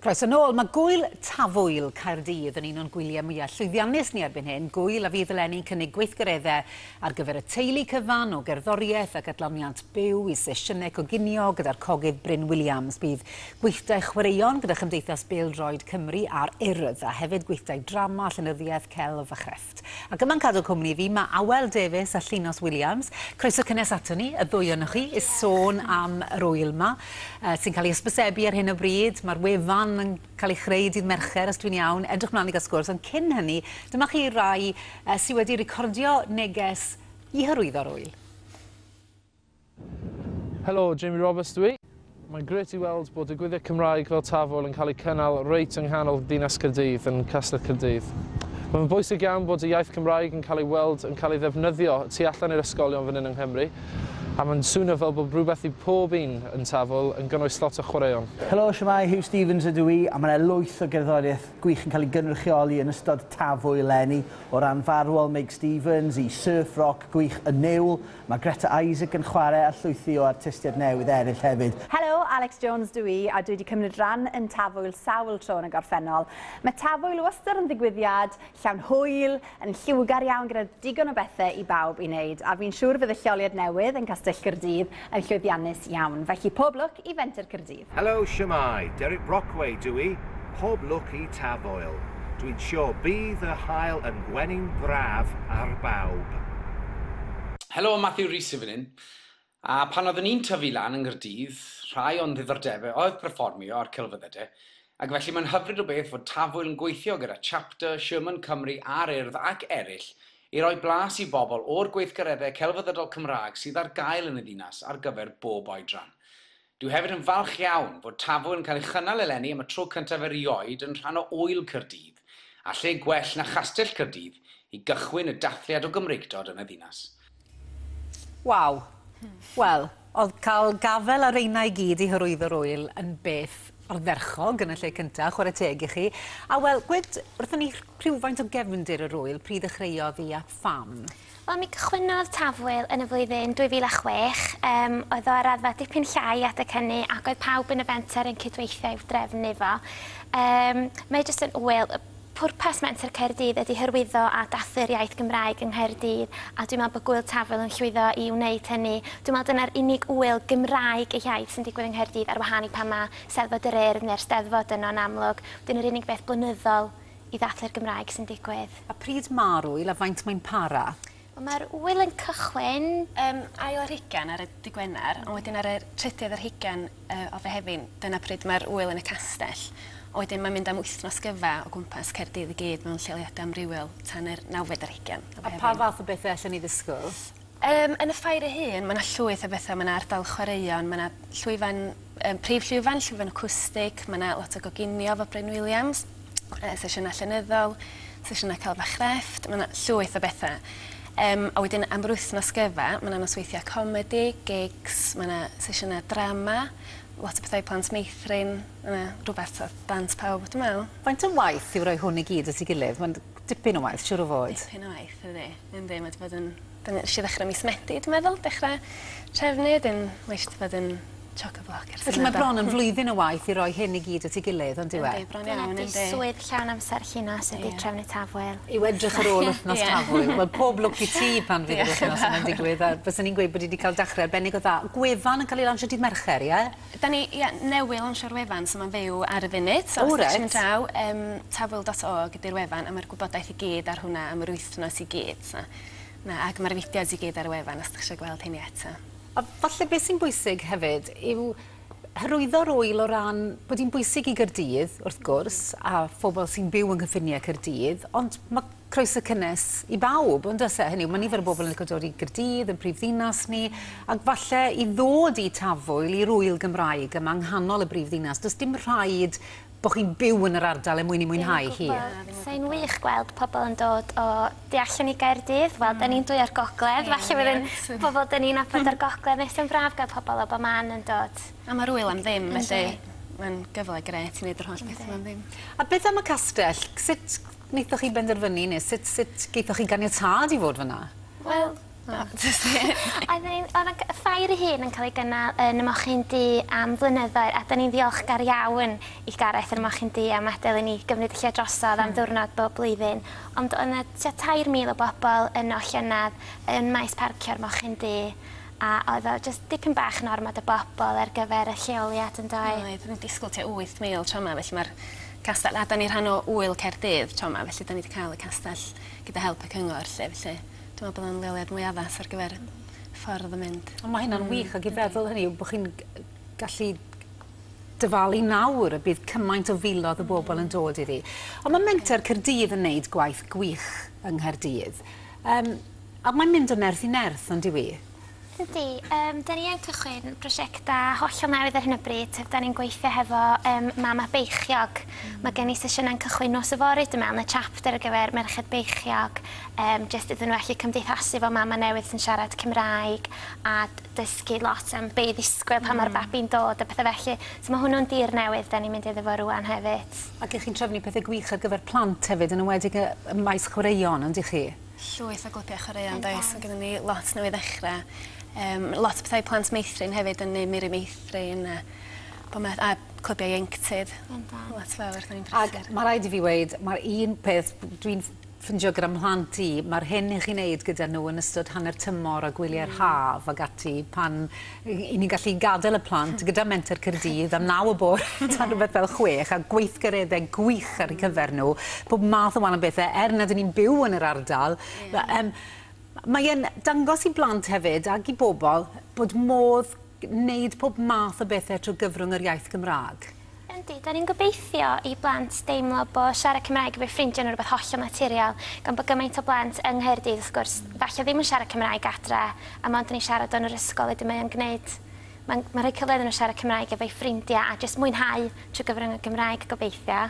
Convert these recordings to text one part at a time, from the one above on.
Croeso nôl, mae gwyl Tafwyl Caerdydd yn un o'n gwyliau mwyaf llwyddiannus ni erbyn hyn, gwyl a fydd eleni'n cynnig gweithgareddau ar gyfer y teulu cyfan o gerddoriaeth ac adloniant byw i sesiynau coginio gyda'r cogydd Bryn Williams. Bydd gweithdai chwaraeon gyda Chymdeithas Bêl-droed Cymru a'r Urdd a hefyd gweithdai drama, llenyddiaeth, celf a chreff. Ac yma'n cadw cwmni i fi, mae Awel Davies a Llinos Williams. Croeso cynnes ato ni, y ddwy ohonoch chi, i sôn am yr ŵyl yma, uh, sy'n cael ei ysbysebu ar hyn o bryd. Mae'r wefan yn cael ei chreu dydd Mercher, os dwi'n iawn. Edrych mlaen i gael sgwrs, ond cyn hynny, dyma chi rai uh, sydd wedi recordio neges i hyrwyddo'r ŵyl. Helo, Jamie Roberts dw i. Mae'n grêt i weld bod digwyddiad Cymraeg fel Tafwyl yn cael ei cynnal reit yng nghanol ddinas Caerdydd, yn Castell Caerdydd. Mae'n fy bwysig iawn bod y iaith Gymraeg yn cael ei weld yn cael ei ddefnyddio tu allan i'r ysgolion fan hyn yng Nghymru, a mae'n swnio fel bod rhywbeth i pob un yn Tafwyl, yn gynnwys lot o chwaraeon. Helo, shwmae, Huw Stephens ydw i, a mae yna lwyth o gerddoriaeth gwych yn cael ei gynrychioli yn ystod Tafwyl eleni, o ran farwol Meg Stephens i surf roc gwych Y Niwl, Mae Greta Isaac yn chwarae ar llwythi o artistiaid newydd eraill hefyd. Helo, Alex Jones dw i a dwi 'di cymryd ran yn Tafwyl sawl tro yn y gorffennol. Mae Tafwyl wastad yn ddigwyddiad llawn hwyl, yn lliwgar iawn gyda digon o bethe i bawb i wneud a fi'n siŵr fydd y lleoliad newydd yn Castell Caerdydd yn llwyddiannus iawn, felly pob lwc i Fenter Caerdydd. Helo, shwmae, Derek Brockway dw i, pob lwc i Tafwyl. Dwi'n siwr bydd y haul yn gwenu'n braf ar bawb. Helo, Matthew Rees sy'n fan hyn. A pan oeddwn i'n tyfu lan yng Nghaerdydd, rhai o'n ddiddordebau oedd perfformio a'r celfyddydau, ac felly mae'n hyfryd o beth fod Tafwyl yn gweithio gyda Chapter, Sherman Cymru a'r Urdd ac eraill i roi blas i bobl o'r gweithgareddau celfyddydol Cymraeg sydd ar gael yn y ddinas ar gyfer bob oedran. Dwi hefyd yn falch iawn fod Tafo yn cael ei chynnal eleni am y tro cyntaf erioed yn rhan o Ŵyl Caerdydd, a lle gwell na Chastell Caerdydd i gychwyn y dathliad o Gymreictod yn y ddinas. Waw! Wel, oedd cael gafael ar reina i gyd i hyrwyddo'r ŵyl yn beth ardderchog yn y lle cyntaf, chwarae teg i chi. A wel, gwed wrthon ni rhywfaint o gefndir yr ŵyl, pryd ddechreuodd hi a pham? Wel, mi gychwynnodd Tafwyl yn y flwyddyn 2006. Yym, oedd o ar raddfa dipyn llai adeg hynny ac oedd pawb yn y fenter yn cydweithio i'w drefnu fo. Yym, mae jyst yn ŵyl. Y pwrpas Menter Caerdydd ydy hyrwyddo a dathlu'r iaith Gymraeg yng Nghaerdydd a dwi'n meddwl bod Gŵyl Tafwyl yn llwyddo i wneud hynny. Dwi'n meddwl dyna'r unig ŵyl Gymraeg ei hiaith sy'n digwydd yng Nghaerdydd ar wahân i pan mae 'Steddfod yr Urdd' neu'r 'Steddfod' yno yn amlwg. Wedyn yr unig beth blynyddol i ddathlu'r Gymraeg sy'n digwydd. A pryd ma'r ŵyl a faint mae'n para? Wel ma'r ŵyl yn cychwyn yym ail ar hugen ar y dy' Gwener ond wedyn ar y trydydd ar hugen yy o Fehefin dyna pryd ma'r ŵyl yn y castell a wedyn mae'n mynd am wythnos gyfa o gwmpas Caerdydd i gyd mewn lleoliada amrywiol tan yr nawfed ar hugen o Fehefin. A pa fath o bethe allen ni ddisgwl? Yym, yn y ffair ei hun, mae 'na llwyth o betha. Mae 'na ardal chwaraeon, mae 'na llwyfan, yym, prif llwyfan, llwyfan acwstig, mae 'na lot o goginio efo Bryn Williams, yy sesiyna llenyddol, sesiyna celf a chrefft, mae 'na llwyth o betha. Yym, a wedyn am yr wythnos gyfa, mae 'na nosweithia comedi, gigs, mae 'na sesiyna drama, lot o betha i plant meithrin, mae 'na rwbeth t'o' dant pawb dwi me'wl. Faint o waith yw roi hwn i gyd at 'i gilydd? Ma'n dipyn o waith siŵr o fod. Dipyn o waith, yndi. Yn ddim, wedi bod yn... Nes i ddechrau mis Medi, dwi'n meddwl, dechrau trefnu, wedyn mae eisiau bod yn chock-a-block ers hynny. Felly mae bron yn flwyddyn o waith i roi hyn i gyd at ei gilydd, yn dyw e? Yndi, bron iawn, yndi. Dyna 'di swydd llawn amser Llinos ydi trefnu Tafwyl. Yw edrych ar ôl wythnos Tafwyl. Wel, pob lwc i ti pan fydd yr wythnos yma'n digwydd, a bysen i'n gweud bod hi 'di cael dechrau arbennig o dda. Gwefan yn cael ei lansio dydd Mercher, ie? Da ni, ie, newydd lansio'r wefan, so mae'n fyw ar y funud. O reit. So os 'da chi'n mynd draw, yym, tafwyl.org ydi'r wefan, a mae'r gwybodaeth i gyd ar hwnna am yr wythnos. Dyna ti gyd. So, na, ac mae'r fideos i gyd ar y wefan os ydych eisiau gweld hynny eto. A falle beth sy'n bwysig hefyd yw hyrwyddo'r ŵyl o ran bod hi'n bwysig i Gaerdydd, wrth gwrs, a phobl sy'n byw yng nghyffiniau Caerdydd, ond mae croeso cynnes i bawb, ond oes e? Hynny yw, mae nifer o bobl yn licio dod i Gaerdydd, yn prif ddinas ni, ac falle i ddod i Tafwyl, i'r ŵyl Gymraeg yma yng nghanol y brif ddinas, does dim rhaid bo chi'n byw yn yr ardal er mwyn i mwynhau hi. Sai'n wych gweld pobl yn dod o du allan i Gaerdydd wel 'dyn ni'n dwy o'r gogledd falle fydd yn bobol 'dyn ni'n nabod o'r gogledd nes yn braf ga'l pobol o bo man yn dod. A ma'r ŵyl am ddim felly ma'n gyfle grêt i neud yr holl bethe 'ma am ddim. A beth am y castell sut naethoch chi benderfynu ne' sut sut gaethoch chi ganiatâd i fod fyn 'na? Wel Na. Oedden ni'n o'dd y g- y ffair ei hun yn ca'l ei gynnal yn y mochyn du am flynyddoedd a 'dyn ni'n ddiolchgar iawn i Gareth a'r mochyn du am adel i ni gymryd y lle drosodd am ddiwrnod bob blwyddyn ond o' 'na tua tair mil o bobol yno llynadd yn maes parcio'r mochyn du a oedd o jyst dipyn bach yn ormod o bobol ar gyfer y lleoliad yndoedd? Oedd o'n i'n disgwl tua wyth mil tro 'ma felly ma'r castell a 'dan ni rhan o Ŵyl Caerdydd tro 'ma felly 'dan ni 'di ca'l y castell gyda help y cyngor 'lly felly Dwi me'wl bod o'n leoliad mwy addas ar gyfer ffordd o mynd. On' ma' hynna'n wych ag i feddwl hynny yw bo' chi'n g- yy gallu dyfalu nawr y bydd cymaint o filodd o bobol yn dod iddi. On' ma' Menter Caerdydd yn neud gwaith gwych yng Nghaerdydd. Yym a mae'n mynd o nerth i nerth on'd yw i? Yndi, yym 'dan ni yn cychwyn prosiecta hollol newydd ar hyn o bryd yym 'dan ni'n gweithio hefo yym Mama Beichiog. Hmm. Ma' gen i sesiyna'n cychwyn nos yfory dwi me'wl yn y chapter ar gyfer merched beichiog yym jyst iddyn n'w allu cymdeithasu efo mama newydd sy'n siarad Cymraeg a d- dysgu lot am be' i ddisgwyl pan ma'r babi'n dod a pethe felly so ma' hwnnw'n dir newydd 'dan ni'n mynd iddo fo rŵan hefyd. Ac 'ych chi'n trefnu pethe gwych ar gyfer plant hefyd yn enwedig yy ym maes chwaraeon on'd 'ych chi? Llwyth o glybia chwaraeon 'does? Ma' gynnon ni lot newydd ddechre yym lot o petha i plant meithrin hefyd yn Ne Mur i Meithrin a bo' ma' a clybia ieuenctid. Bendant. Lot fawr wrth ein brysur. Ag ma' raid i fi weud ma'r un peth b- dwi'n ff- ffindio gyda mhlant i ma'r hyn i chi neud gyda n'w yn ystod hanner tymor a gwylia'r haf ag ati pan 'yn ni'n gallu gadael y plant gyda Menter Caerdydd am naw y bore tan rhywbeth fel chwech, a gweithgaredde gwych ar eu cyfer nhw, pob math o wahanol bethe, er nad 'yn ni'n byw yn yr ardal, yym mae e'n dangos i blant hefyd, ag i bobl, bod modd gwneud pob math o bethe trwy gyfrwng yr iaith Gymraeg. Yndi, dan ni'n gobeithio i blant deimlo bo' siarad Cymraeg efo'u ffrindiau nhw'n rhywbeth hollol naturiol, gan bo' gymaint o blant yng Nghaerdydd, wrth gwrs, falle ddim yn siarad Cymraeg adre, a mond yn ei siarad o yn yr ysgol, wedyn mae o'n gwneud... mae'n rhoi cyfle iddyn nhw siarad Cymraeg efo'u ffrindiau a jyst mwynhau trwy gyfrwng y Gymraeg, gobeithio.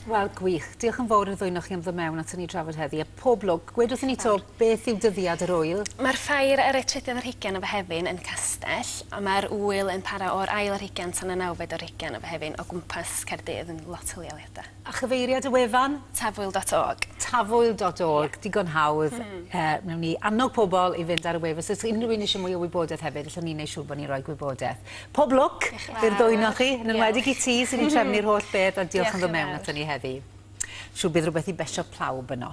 Wel, gwych. Diolch yn fawr i'r ddwy'n o'ch chi am ddod mewn at ni drafod heddi. A pob lwc. Gwed wrth i ni to, beth yw dyddiad yr wyl? Mae'r ffair ar y trydydd ar hugain o Fehefin yn Castell, ond mae'r wyl yn para o'r ail ar hugain tan y nawfed ar hugain o Fehefin o gwmpas Caerdydd yn lot o leoliadau. A chyfeiriad y wefan? Tafwyl dot org. Tafwyl dot org. Ie. Digon hawdd. Mm. Yy, wnawn ni annog pobl i fynd ar y wefan. So os unrhyw un eisiau mwy o wybodaeth hefyd, allwn ni wneud siŵr bod ni'n rhoi gwybodaeth. Pob lwc i'r ddwyn o chi, yn enwedig i ti sy'n trefnu'r holl beth a diolch am ddod mewn ato ni heddi. Siw bydd rhywbeth i besio plawb yno.